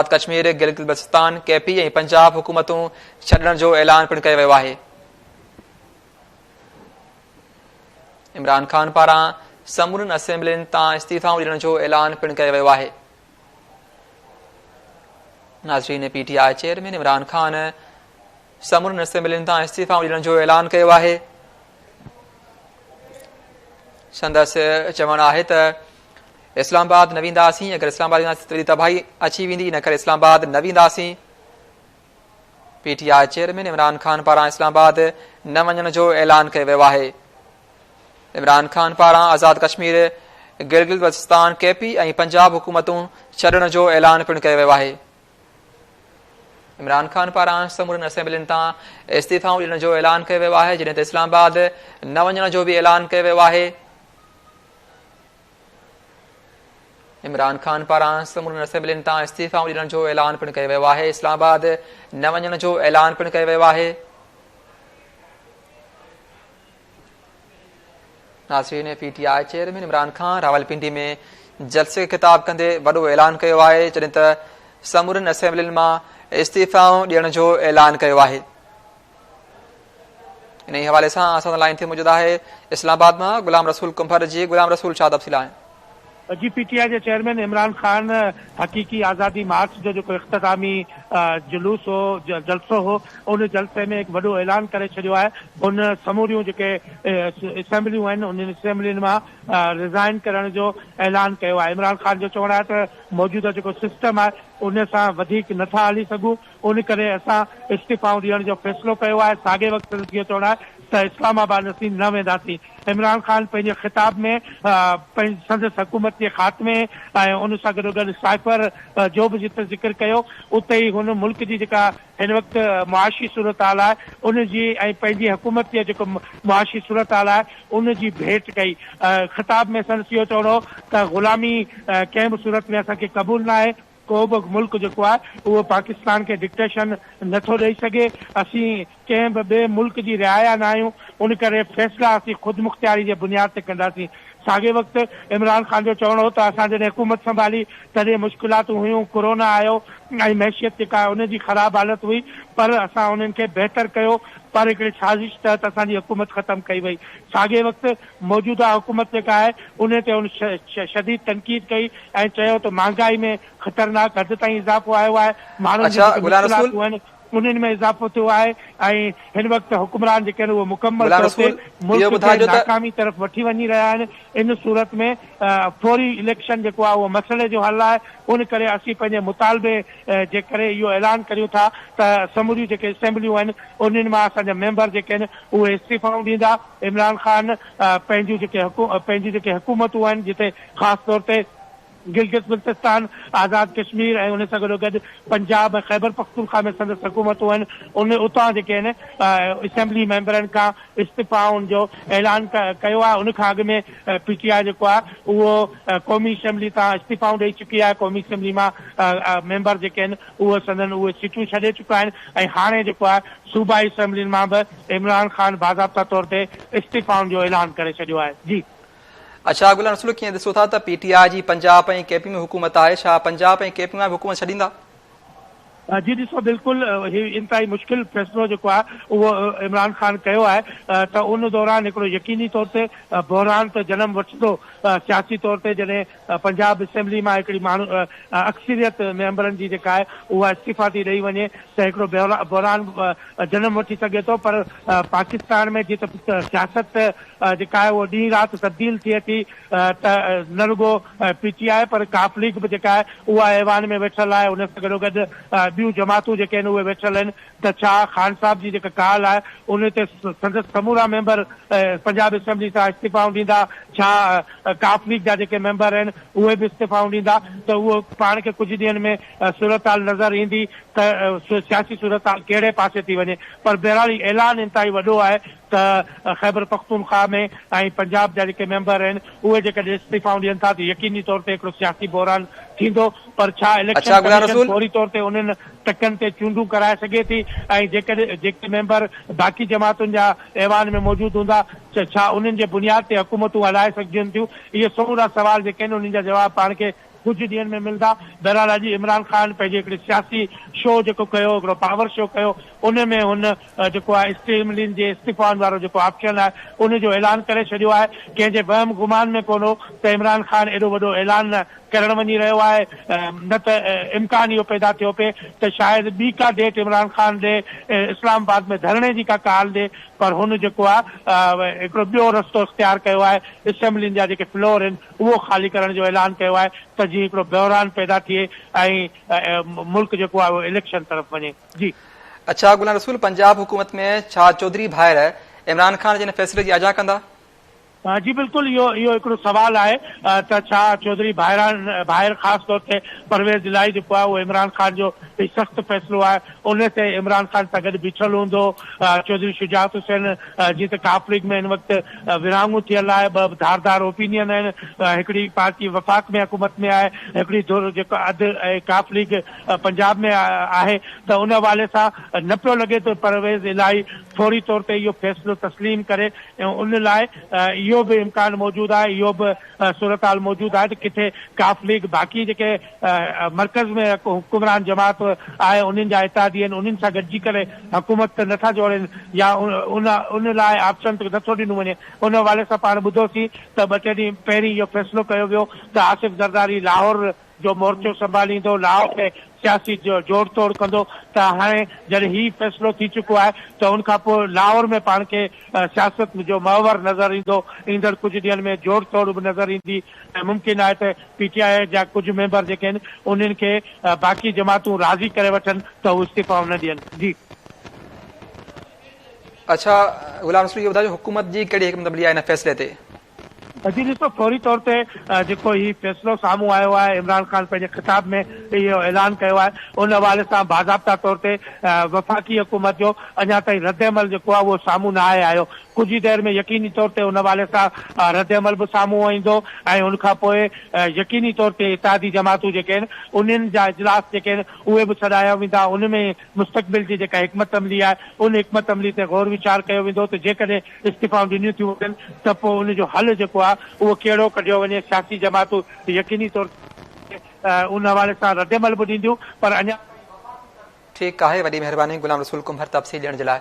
آزاد Kashmir, Gilgit Baltistan, K P ۽ Punjab حڪومتون ڇڏڻ جو اعلان پڻ ڪيو ويو آهي. عمران خان پاران سمورين اسيمبلين تان استعيفائون ڏيڻ جو اعلان پڻ ڪيو ويو آهي. ناظرين P T I chairman Imran Khan سمورين اسيمبلين تان استعيفائون ڏيڻ جو اعلان ڪيو آهي سندس چوڻ آهي ته اسلام آباد نه وينداسين اگر اسلام آباد وينداسين ته وڏي تباهي اچي ويندي ان ڪري اسلام آباد نه وينداسين P T I chairman Imran Khan پاران اسلام آباد نه وڃڻ جو اعلان ڪيو ويو آهي عمران خان پاران آزاد ڪشمير گلگل بلتستان ڪي پي ۽ پنجاب حڪومتون ڇڏڻ جو اعلان پڻ ڪيو ويو آهي عمران خان پاران سمورن اسيمبلين تان استعيفا ڏيڻ جو اعلان ڪيو ويو آهي جڏهن ته اسلام آباد نه وڃڻ جو به اعلان ڪيو ويو آهي عمران خان پاران سمورن اسيمبلين تان استعيفائون ڏيڻ جو اعلان پڻ ڪيو ويو آهي اسلام آباد نه وڃڻ جو اعلان پڻ ڪيو ويو آهي ناظرين P T I chairman Imran Khan Rawalpindi ۾ جلسي کي خطاب ڪندي وڏو اعلان ڪيو آهي جڏهن ته سمورن اسيمبلين مان استعيفائون ڏيڻ جو اعلان ڪيو آهي انهيء حوالي سان اسان سان لائين تي موجود آهي اسلام آباد مان غلام رسول ڪنڀر جي غلام رسول ڇا تفصيل آهن؟ جي پي ٽي آء جي چيئرمين عمران خان حقيقي آزادي مارچ جو جيڪو اختتامي جلوس هو جلسو هو ان جلسي ۾ هڪ وڏو اعلان ڪري ڇڏيو آهي هن سموريون جيڪي اسيمبليون آهن انهن اسيمبلين مان رزائن ڪرڻ جو اعلان ڪيو آهي عمران خان جو چوڻ آهي ته موجوده جيڪو سسٽم آهي ان سان وڌيڪ نٿا هلي سگهون ان ڪري اسان استعيفائون ڏيڻ جو فيصلو ڪيو آهي، ساڳئي وقت سندس اهو چوڻ آهي ته اسلام آباد اسين نه وينداسين. عمران خان پنهنجي خطاب ۾ سندس حڪومت جي خاتمي ۽ ان سان گڏوگڏ سائفر جو به جتي ذڪر ڪيو اتي ئي هن ملڪ جي جيڪا هن وقت معاشي صورتحال آهي ان جي ۽ پنهنجي حڪومت جي جيڪو معاشي صورتحال آهي ان جي ڀيٽ ڪئي. خطاب ۾ سندس اهو چوڻ هو ته غلامي ڪنهن به صورت ۾ اسان کي قبول ناهي. ڪو به ملڪ جيڪو آهي اهو پاڪستان کي ڊڪٽيشن نه ٿو ڏئي سگهي، اسين ڪنهن به ٻئي ملڪ جي رعايا نه آهيون، ان ڪري فيصلا اسين خودمختياري جي بنياد تي ڪنداسين. ساڳئي وقت عمران خان جو چوڻ هو ته اسان جڏهن حڪومت سنڀالي تڏهن مشڪلاتون هيون، ڪورونا آيو ۽ معيشيت جيڪا آهي ان جي خراب حالت هئي پر اسان انهن کي بهتر ڪيو پر هڪڙي سازش تحت اسان جي حڪومت ختم ڪئي وئي. ساڳئي وقت موجوده حڪومت جيڪا آهي انهي تي هن شديد تنقيد ڪئي ۽ چيو ته مهانگائي ۾ خطرناڪ حد تائين اضافو آيو آهي، ماڻهن جون جيڪي مشڪلاتون آهن انهن ۾ اضافو ٿيو آهي ۽ هن وقت حڪمران جيڪي آهن اهي مڪمل طور تي ملڪ کي ناڪامي طرف وٺي وڃي رهيا آهن، ان صورت ۾ فوري اليڪشن جيڪو آهي اهو مسئلي جو حل آهي، ان ڪري اسين پنهنجي مطالبي جي ڪري اهو اعلان ڪريون ٿا ته سموريون جيڪي اسيمبليون آهن انهن مان اسان جا ميمبر جيڪي آهن اهي استعيفائون ڏيندا. عمران خان پنهنجون جيڪي پنهنجون جيڪي حڪومتون آهن جتي خاص طور تي گلگت بلتستان، آزاد ڪشمير ۽ ان سان گڏو گڏ پنجاب ۽ خيبر پختونخوا ۾ سندس حڪومتون آهن ان اتان جيڪي آهن اسيمبلي ميمبرن کان استعفائن جو اعلان ڪيو آهي ان کان اڳ ۾ پي ٽي آء جيڪو آهي اهو قومي اسيمبلي تان استعفائون ڏئي چڪي آهي قومي اسيمبلي مان ميمبر جيڪي آهن اهو سندن اهي سيٽون ڇڏي چڪا آهن ۽ هاڻي جيڪو آهي صوبائي اسيمبلين مان به عمران خان باضابطه طور تي استعيفائن جو اعلان ڪري ڇڏيو آهي جي. اڇا گلان اصل ڪيئن ڏسو ٿا ته پي ٽي آء جي پنجاب ۽ ڪي پي ۾ حڪومت آهي ڇا پنجاب ۽ ڪي پي مان به حڪومت ڇڏيندا؟ جي ڏسو بلڪل هي انتهائي مشڪل فيصلو جيڪو آهي اهو عمران خان ڪيو آهي ته ان دوران هڪڙو يقيني طور تي بحران ته جنم وٺندو سياسي طور تي جڏهن پنجاب اسيمبلي مان هڪڙي ماڻهو اڪثريت ميمبرن جي جيڪا آهي اها استعيفا ٿي ڏئي وڃي ته هڪڙو بحران جنم وٺي سگهي ٿو پر پاڪستان ۾ جيئن ته سياست جيڪا آهي اهو ڏينهن رات تبديل ٿئي ٿي ته نه رڳو پي ٽي آء پر ڪاف ليگ به جيڪا آهي اها ايوان ۾ ويٺل آهي ان سان گڏوگڏ ٻيون جماعتون جيڪي آهن اهي ويٺل آهن ته ڇا خان صاحب جي جيڪا ڪال آهي ان تي سندس سمورا ميمبر پنجاب اسيمبلي سان استعيفائون ڏيندا؟ ڇا ق ليگ جا جيڪي ميمبر آهن اهي به استعيفائون ڏيندا ته اهو پاڻ کي ڪجهه ڏينهن ۾ صورتحال نظر ايندي ته سياسي صورتحال ڪهڙي پاسي ٿي وڃي پر بهرحال هي اعلان انتهائي وڏو آهي ته خيبر پختونخواهه ۾ ۽ پنجاب جا جيڪي ميمبر آهن اهي جيڪڏهن استعيفائون ڏين ٿا ته يقيني طور تي هڪڙو سياسي بحران ٿيندو پر ڇا اليڪشن ڪميشن فوري طور تي انهن ٽڪن تي چونڊون ڪرائي سگهي ٿي ۽ جيڪڏهن جيڪي ميمبر باقي جماعتن جا ايوان ۾ موجود هوندا ته ڇا انهن جي بنياد تي حڪومتون هلائي سگهجن ٿيون اهي سمورا سوال جيڪي آهن انهن جا جواب پاڻ کي ڪجهه ڏينهن ۾ ملدا. بهرحال اڄ عمران خان پنهنجي هڪڙي سياسي شو جيڪو ڪيو هڪڙو پاور شو ڪيو ان ۾ هن جيڪو آهي اسٽيملين جي استعيفائن وارو جيڪو آپشن آهي ان جو اعلان ڪري ڇڏيو آهي ڪنهن جي وهم گمان ۾ ڪونه هو ته عمران خان ايڏو وڏو اعلان ڪرڻ وڃي رهيو آهي نه ته امڪان اهو پيدا ٿيو پئي ته شايد ٻي ڪا ڊيٽ عمران خان ڏي اسلام آباد ۾ ڌرڻي جي ڪا ڪال ڏي پر هن جيڪو آهي هڪڙو ٻيو رستو اختيار ڪيو آهي اسيمبلين جا جيڪي فلور آهن اهو خالي ڪرڻ جو اعلان ڪيو آهي ته جيئن هڪڙو بحران پيدا ٿئي ۽ ملڪ جيڪو آهي اهو اليڪشن طرف وڃي جي. اڇا غلام رسول پنجاب حڪومت ۾ ڇا چوڌري ڀائر عمران خان جي ان فيصلي جي آجيان ڪندا؟ جي بلڪل اهو اهو هڪڙو سوال آهي ته ڇا چوڌري ڀائران ڀائر خاص طور تي پرويز الاهي جيڪو آهي اهو عمران خان جو هي سخت فيصلو آهي ان تي عمران خان سان گڏ بيٺل هوندو چوڌري شجاعت حسين جي ته ڪاف ليگ ۾ هن وقت ورهاڱو ٿيل آهي ٻه ڌار ڌار اوپينين آهن هڪڙي پارٽي وفاق ۾ حڪومت ۾ آهي هڪڙي ڌر جيڪو اڌ ۽ ڪاف ليگ پنجاب ۾ آهي ته ان حوالي سان نه پيو لڳي ته پرويز الاهي فوري طور تي اهو فيصلو تسليم ڪري ان لاء اهو به امڪان موجود آهي اهو به صورتحال موجود آهي ته ڪٿي ڪاف ليگ باقي جيڪي مرڪز ۾ حڪمران جماعت آهي انهن جا اتحادي آهن انهن سان گڏجي ڪري حڪومت ته نٿا جوڙين يا ان ان لاء آپشن ته نٿو ڏنو وڃي ان حوالي سان پاڻ ٻڌوسين ته ٻه ٽي ڏينهن پهرين اهو فيصلو ڪيو ويو ته آصف زرداري لاهور جو مورچو سنڀاليندو لاهور ۾ سياسي جوڙ توڙ ڪندو ته هاڻي جڏهن هي فيصلو ٿي چڪو آهي ته ان کانپوء لاهور ۾ پاڻ کي سياست جو محور نظر ايندو ايندڙ ڪجهه ڏينهن ۾ جوڙ توڙ به نظر ايندي ۽ ممڪن آهي ته پي ٽي آء جا ڪجهه ميمبر جيڪي آهن انهن کي باقي جماعتون راضي ڪري وٺن ته هو استعيفائون نه ڏين. جي. اڇا غلام رسول اهو ٻڌايو حڪومت جي ڪهڙي حڪمت عملي آهي هن فيصلي تي؟ جي ڏسو فوري طور تي جيڪو هي فيصلو سامهون آيو آهي عمران خان پنهنجي خطاب ۾ اهو اعلان ڪيو آهي ان حوالي سان باضابطا طور تي وفاقي حڪومت جو اڃا تائين رد عمل جيڪو آهي اهو سامهون نه آهي آيو ڪجهه ئي دير ۾ يقيني طور تي ان حوالي سان ردعمل به سامهون ايندو ۽ ان کان پوء يقيني طور تي اتحادي جماعتون جيڪي آهن انهن جا اجلاس جيڪي آهن اهي به سڏايا ويندا ان ۾ مستقبل جي جيڪا حڪمت عملي آهي ان حڪمت عملي تي غور ويچار ڪيو ويندو ته جيڪڏهن استعيفائون ڏنيون ٿيون وڃن ته پوء ان جو حل جيڪو آهي اهو ڪهڙو ڪڍيو وڃي سياسي جماعتون يقيني طور تي ان حوالي سان ردعمل به ڏينديون پر اڃا تائين وفاقي طرف ٺيڪ آهي وڏي مهرباني غلام رسول ڪنڀر تفصيل ڏيڻ جي لاء.